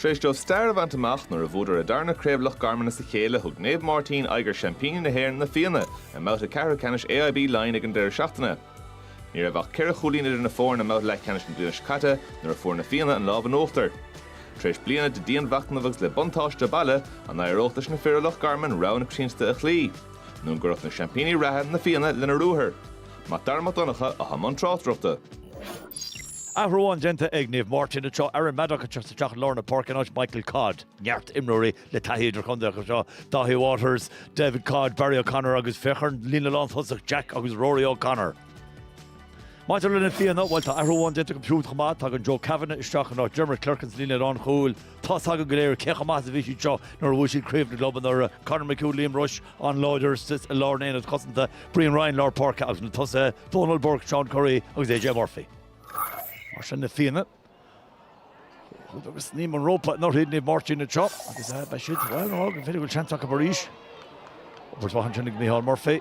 Tar éis dóibh stair a bhaint amach nuair a bhuadar a dtarna Craobh Loch Garman as a chéile, thug Naomh Máirtín aghaidh ar Seaimpíní na hÉireann, Na Fianna, i mbabhta ceathrú ceannais AIB Laighin ag an deireadh seachtaine. Ní raibh ach ceithre chúilín idir na foirne i mbabhta leathcheannais na bliana seo caite nuair a fuair Na Fianna an lámh in uachtar. Tar éis bliana de dhianmhachnamh agus le buntáiste baile, an éireodh leis na fir ó Loch Garman rogha na coitiantachta a chloí, nó an gcuirfeadh na seaimpíní reatha, Na Fianna, lena ruathar? MacDara Mac Donncha atá i mbun tráchtaireachta. Athrú amháin déanta ag Naomh Máirtín anseo, Aaron Maddock ag teacht isteach i lár na páirce in áit Michael Codd. Neart imreoirí le taithí idirchontae acu seo, Dáithí Waters, David Codd, Barry O'Connor agus féach ar an líne lántosach, Jack agus Rory O'Connor. Maidir le na Fianna, bhuel tá athrú amháin déanta acu siúd chomh maith, tagann Joe Kavanagh isteach in áit Diarmuid Clerkin sa líne lánchúil. Tá's againn go léir cé chomh maith is a bhí siad seo nuair a bhuaigh siad Craobh na gClub anuraidh, Conor McHugh, Liam Rushe, an-láidir istigh i lár an aonaid chosanta, Brian Ryan, lár páirce agus na tosaithe, Dónal Burke, Seán Currie agus AJ Murphy. Mar sin na Fianna. Chuaigh sé go snaidhm an rópa anuraidh, Naomh Máirtín anseo agus beidh siad, bhuel, b'fhéidir go bhfuil seans acu arís. Obair mhaith ansin ag Micheál Murphy.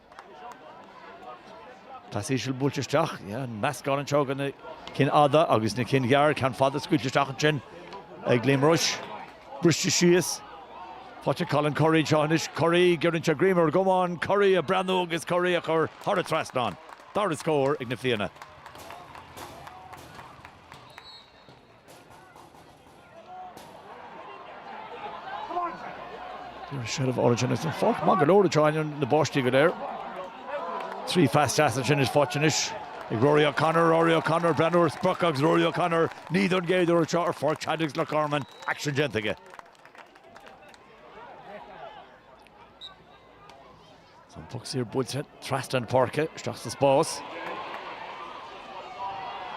Pas íseal buailte isteach, meascán anseo de na cinn fhada agus na cinn ghearr, ceann fada scaoilte isteach ansin ag Liam Rushe. Briste síos, faighte ag Colin Currie anseo anois, Currie giorraíonn sé greim ar an gcamán, Currie ag breathnú agus Currie ag cur thar an trasnán. Dara scór ag Na Fianna. There is a shed of origin is an pháirc maith go leor in ainneoin na báistí go léir. Trí phas deas ansin is faighte anois ag Rory O'Connor, Rory O'Connor, ag breathnú ar an sprioc agus Rory O'Connor, ní don gcéad uair seo ar Pháirc Chadwicks Loch Garman aicsean déanta aige. Tá an puc saor buailte trasna na páirce, isteach sa spás.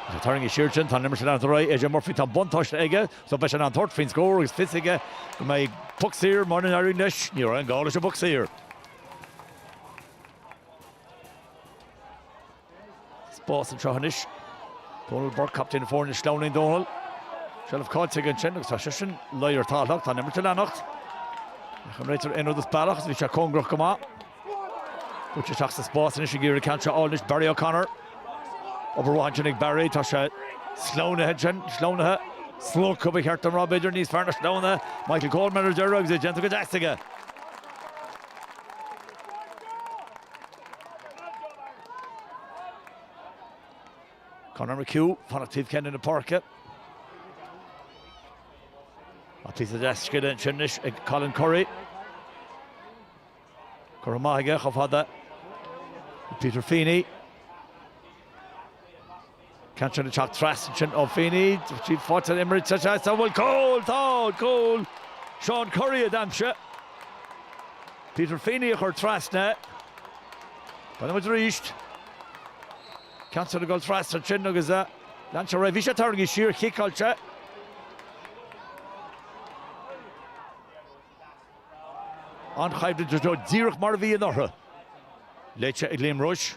Tá sé tarraingthe siar ansin, tá an imirt ag leanúint ar aghaidh, AJ Murphy, tá an buntáiste aige, so beidh sé in ann tabhairt faoin scór agus fios aige go mbeidh puc saor, mara n-éiríonn leis, ní raibh aon ghá leis an bpuc saor. Spás anseo anois. Dónal Burke, captaen foirne sleamhnaíonn Dónal, seilbh cáillte aige ansin agus tá seisean ina luí ar an talamh ach tá an imirt ag leanacht. Ní fhaca an réiteoir aon rud as bealach agus bhí sé cóngarach go maith. Bhuail sé isteach sa spás anois ag iarraidh ceann seo a fháil anois Barry O'Connor. Obair mhaith ansin ag Barry, tá sé sleamhnaithe ansin, sleamhnaithe, slogtha ba cheart dom a rá b'fhéidir, níos fearr ná sleamhnaithe. Michael Coleman ar deireadh agus é déanta go deas aige. Conor McHugh, fanacht taobh céanna na páirce. Ach píosa deas scile ansin anois ag Colin Currie. Curtha amach aige chomh fada le Peter Feeney. Ceann ard ag teacht trasna ansin ó Feeney, tríd faighte an imirt, sa seans an bhfuil cúl! Tá! Cúl! Seán Currie a d'aimsigh. Peter Feeney a chuir trasna é. Breathnaímid arís. Ceann ard ag dul trasna ansin agus lean sé ar aghaidh. Bhí sé tarraingthe siar, ciceáilte. An-choimhlint díreach mar a bhí in orthu. Léite ag Liam Rushe.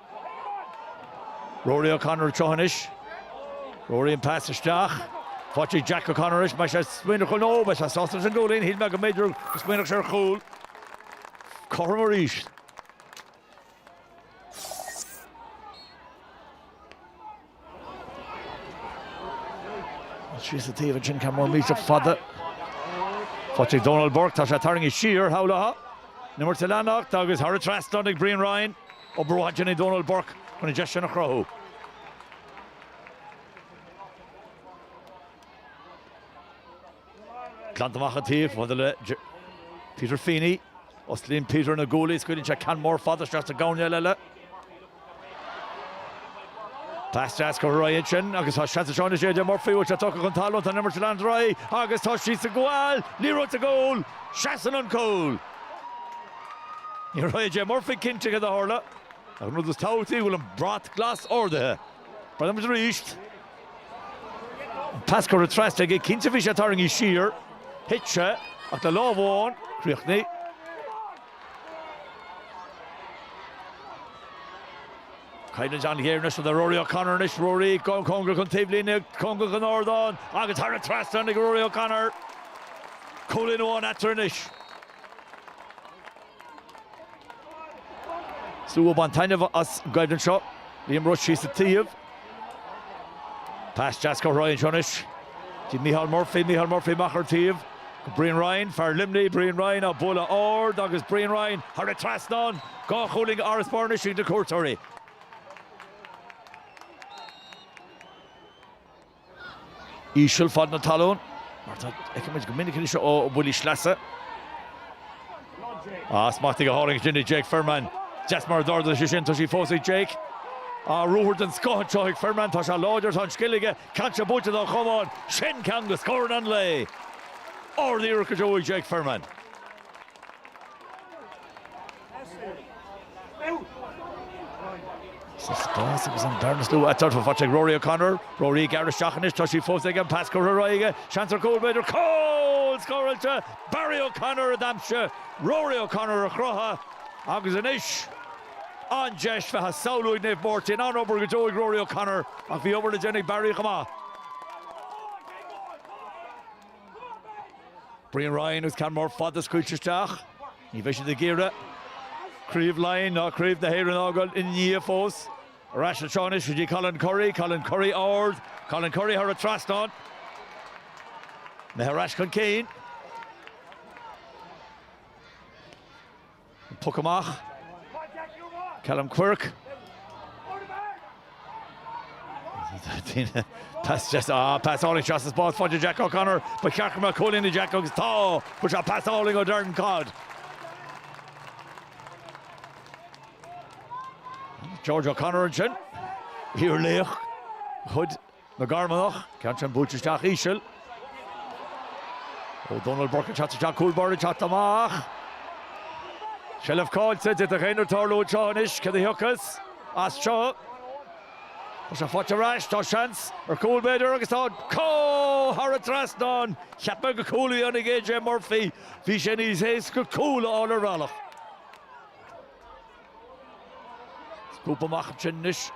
Rory O'Connor ag tíocht anois. Rory an pas isteach. Faighte ag Jack O'Connor anois. An mbeidh sé ag smaoineamh ar chúl nó an mbeidh sé sásta leis an gcúilín. Shíl mé go mb'fhéidir go smaoinfeadh sé ar chúl. Cothrom arís. Síos an taobh ansin, ceann mór millteach fada. Faighte ag Dónal Burke, tá sé tarraingthe siar, shamhlófá. An imirt ag leanacht agus thar an trasnán ag Brian Ryan. Obair mhaith déanta ag Dónal Burke chun an deis sin a chruthú. Glanta amach ar an taobh chomh fada le Peter Feeney. Osclaíonn Peter na guaillí, scaoileann sé ceann mór fada isteach sa gcoirnéal eile. Pas deas curtha ar aghaidh ansin agus tá seans anseo anois ag AJ Murphy, an bhfuil sé tugtha chun talún, tá an imirt ag leanacht ar aghaidh agus tá sí sa gcúl! Liathróid sa gcúl! Seasann an cúl! Ní raibh AJ Murphy cinnte cad a tharla ach an rud is tábhachtaí go bhfuil an brat glas ardaithe. Breathnaímid arís. Pas curtha trasna aige, cinnte bhí sé tarraingthe siar, thit sé, ach le lámh amháin, críochnaithe. Coimhlint an-ghéar anois le Rory O'Connor anois, Rory cóngarach don taobhlíne, cóngarach don ardán agus thar an trasnán ag Rory O'Connor. Cúilín amháin eatarthu anois. Slua ag baint taitneamh as an gcoimhlint seo. Liam Rushe síos an taobh. Pas deas curtha ar aghaidh anseo anois go dtí Mícheál Murphy amach ar an taobh. Brian Ryan, fear Luimnigh, Brian Ryan á bualadh ard agus Brian Ryan thar an trasnán. Dhá chúilín d'fharasbarr anois ag na cuairteoirí. íseal fad na talún, mar atá, feicimid go minic anois ó bhuillí sleasa. Á, smachtaithe go hálainn ansin ag Jake Firman. Deas mar a d'ardaigh sé sin, tá sí fós ag Jake. Á, ruathar den scoth anseo ag Firman, tá sé láidir, tá an scil aige, caillte buailte dá chamán, sin ceann de scóranna an lae! Ard-iarracht go deo ag Jake Firman. Sa spás agus an bearna is lú atá faighte ag Rory O'Connor. Rory ag gearradh isteach anois, tá sí fós aige, an pas curtha ar aghaidh aige, seans ar chúl b'fhéidir, cúl scóráilte! Barry O'Connor a d'aimsigh, Rory O'Connor a chruthaigh agus anois an deis bheith á samhlú ag Naomh Máirtín. An-obair go deo ag Rory O'Connor ach bhí obair le déanamh ag Barry chomh maith. Brian Ryan agus ceann mór fada scaoilte isteach. Ní bheidh siad ag iarraidh craobh Laighin ná craobh na hÉireann a fhágáil ina ndiaidh fós. Ar ais a théann anois go dtí Colin Currie, Colin Currie ard, Colin Currie thar an trasnán. iad ar ais chun cinn. An puc amach. Callum Quirke. Pas álainn seo sa spás faighte ag Jack O'Connor, ba cheart go mbeadh cúilín ag Jack agus tá, bhuel seo pas álainn ó Darren Codd. George O'Connor ansin, iarlaoch de chuid na gCarmanach, ceann sin buailte isteach íseal ó Donal Burke ag teacht isteach, cúl báire ag teacht amach, seilbh caillte, d'fhéadfadh aon rud tarlú anseo anois, céard a thiocfas as seo? Tá sé faighte ar ais, tá seans ar chúl b'fhéidir agus tá, cúl! Thar an trasnán, cheap mé gur cúl a dhéanfadh AJ Murphy, bhí sé níos éasca cúl a fháil ar bhealach. Is puc amach ansin anois.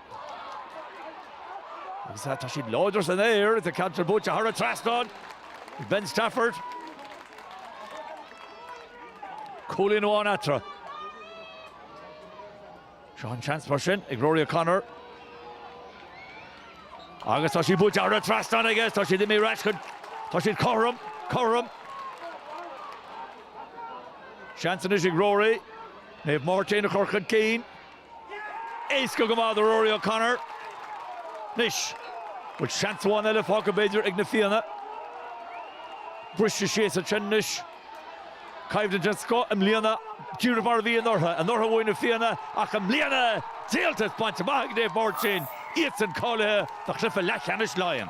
Agus tá tá siad láidir san aer. Tá an ceann sin buailte thar an trasnán. Ben Stafford. Cúilín amháin eatarthu. Seo an seans mar sin ag Rory O'Connor. Agus tá sí buailte thar an trasnán aige. Tá siad imithe ar ais chun tá siad cothrom, cothrom. Seans anois ag Rory. Naomh Máirtín a chur chun cinn. Éasca go maith do Rory O'Connor. Anois, bhfuil seans amháin eile fágtha, b'fhéidir, ag Na Fianna? Briste síos ansin anois. Coimhlint den scoth i mbliana, díreach mar a bhí anuraidh. Anuraidh bhuaigh Na Fianna ach i mbliana, díoltas bainte amach ag Naomh Máirtín, iadsan cáilithe do chluiche leathcheannais Laighean.